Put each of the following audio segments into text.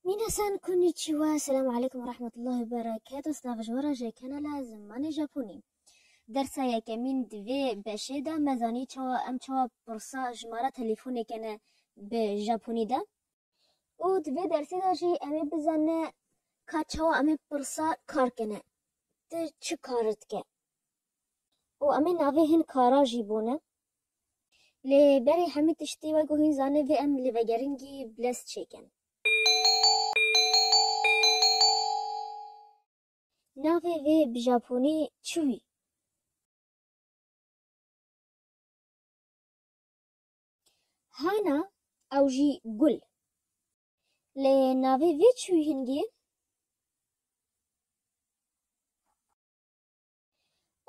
Minasan konnichiwa, selam aleykum ve rahmetullah ve bereketo stav ji we re ji kanala Zimanê Japonî. Dersa yekemîn di vê beşê de me zanî çawa em çawa pirsa jimara telefûnê kene bi Japonî de û di vê dersê de jî em ê bizane ka çawa em ê pirsa kar kene tu çi kar dike û em ê navê hin kara jî bone. Lê berî hemî tiştî we ku hîn zanê vê em li vegeringî bilez çêkin. Navê vê bi japonî çi wî? Hana ew jî gul. Lê navê vê çi wî hingî?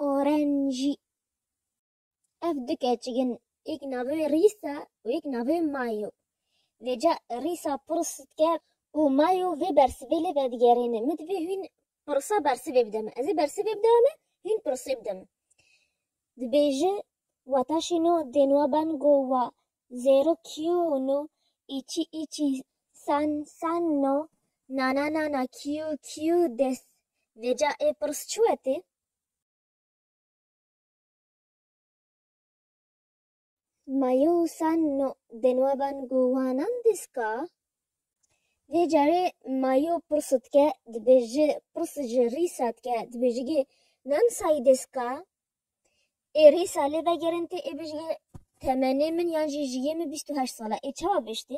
Orenjî. Ev du keçik in, yek navê wê Rîs e û yek navê wê Mayo. Vê ca Rîs a pirs dike û Mayo vê bersivê lê vedigerêne. Min divê hûn pirsa bersivê bide min. Ez ê bersivê bida min, hûn pirsê bide min. Dibêje, Weta şîno dên wa ben go wa, zêro kîyo no, îçî îçî sen sen no, nana nana kîyo kîyo des. Vê ca ê pirs çi wetê? Mayosa no di navan guhanan diska. Vê carê mayo pirsu dike dibêji pirs ji rîsa dike dibêji gê nan sayî diska. Ê rîsa lê vegerin tê ê bijî temenê min yan jî jiyê min bîst û heşt sal e. Ê çawa biştî?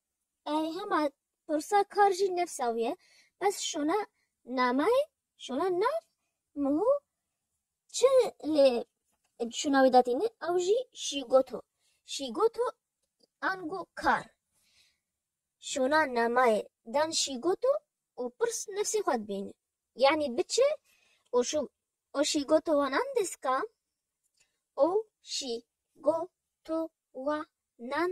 Hema pirsa kar jî nefsa wî ye. Bes şona nameyê, şona nav miho çi lê şona wî datîne ew jî şîgoto. Şîgoto ango kar. Şona nameyê dan şîgoto û pirs nefsê xwe dibîne. Yanî biçe û şû û şîgoto wanan deska û şîgoto wanan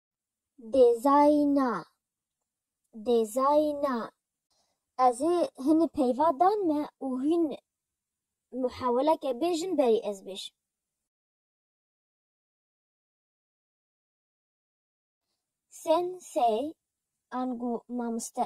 Dêzayîna, dêzayîna. Ez ê hinî peyva dan me û hûn muheweleke bêjin berî ez bêjim. Sen-sey, ango mamoste.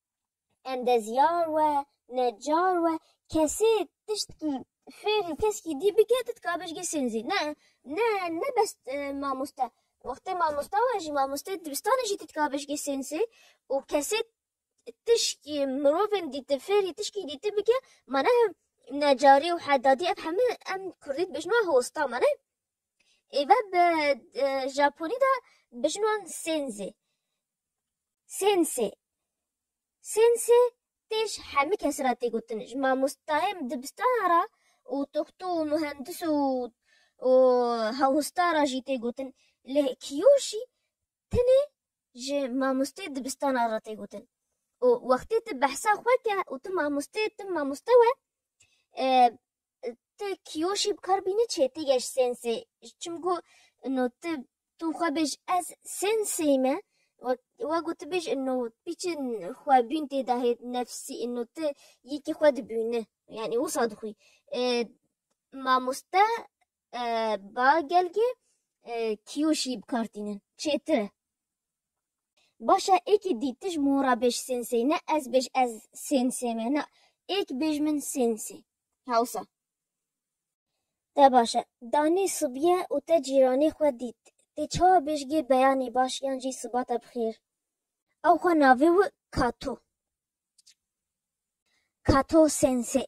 endezyar we, necar we, kesê tiştkî fêrî keskî dî bike tu dikabe ji gê sênzî. Ne ne ne bes mamoste. Wextê mamosta we jî mamosteyê dibistanê jî tu dikabe ji gê sênsê û kesê tişkî mirovên dîti fêrî tişkî dîti bike ma ne necarî û hedadî ev hemû em kurdî dibêjin wan hosta ma ne. Êve bi Japonî de bijin wan sênzê. Sênsê Sênsê tê ji hemû kesî re tê gotin, ji mamostayên dibistanan re û toxto û muhendis û û hewhostan re jî tê gotin. Lê kiyo jî tenê ji mamosteyê dibistanan re tê gotin. Û wextê tu behsa xwe ke û tu mamoste tim mamoste we Ti kîyo jî bi kar bînî çê ti geş sênsê. Çimku no ti tu xwe bêj ez sênsê me we ku ti bêj no ti çi xwe bîn tê de hêt nefsî no ti yekî xwe dibîni yanî wisa dixwî. Mamoste ba gelgê kîyo jî bi kar tînin çêtir e. Baş e êkî dî ti ji min ra bêj sênsê ne ez bêj ez sênsê me na êk bêj min sênsê. hewsa. Te baş e. Danî sibîye û te cîranê xwe dît. Tê çawa bêjgî beyanî baş yan jî sibate bi xêr. Ew xwe navê û Kato, Kato Sensei.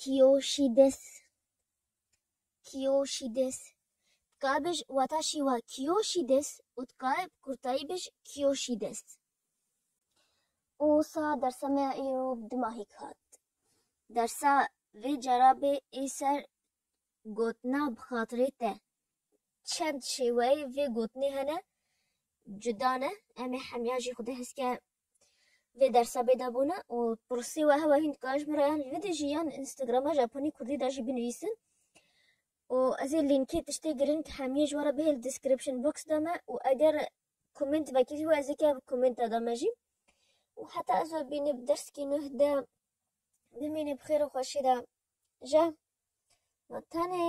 Kîyoşîdis Kîyoşîdis Dikaye bij wata şîwa Kîyoşîdis û dikaye bi kurtayî bij Kîyoşîdis. Wisa dersa me ya îro bi du mahîk hat. Dersa vê cara bê ê ser gotina bi xatirê te. Çend şêweyê vê gotinê hene cuda ne, em ê hemîyan jî xwedî heskê Vê dersa bêdabûne û pirsî weha we hîn dikarin ji min re yan li vîdî jî yan li Instagrama Japonî Kurdî de jî binivîsin û ez ê lînkê tiştê girîng hemiyê ji we re bihê li description box de me û eger komênt vekir jî ez ê ke bi komênta de me jî û heta ez we bîne bi derskî nuh de bimîne bi xêr û xweşî de je ma tenê.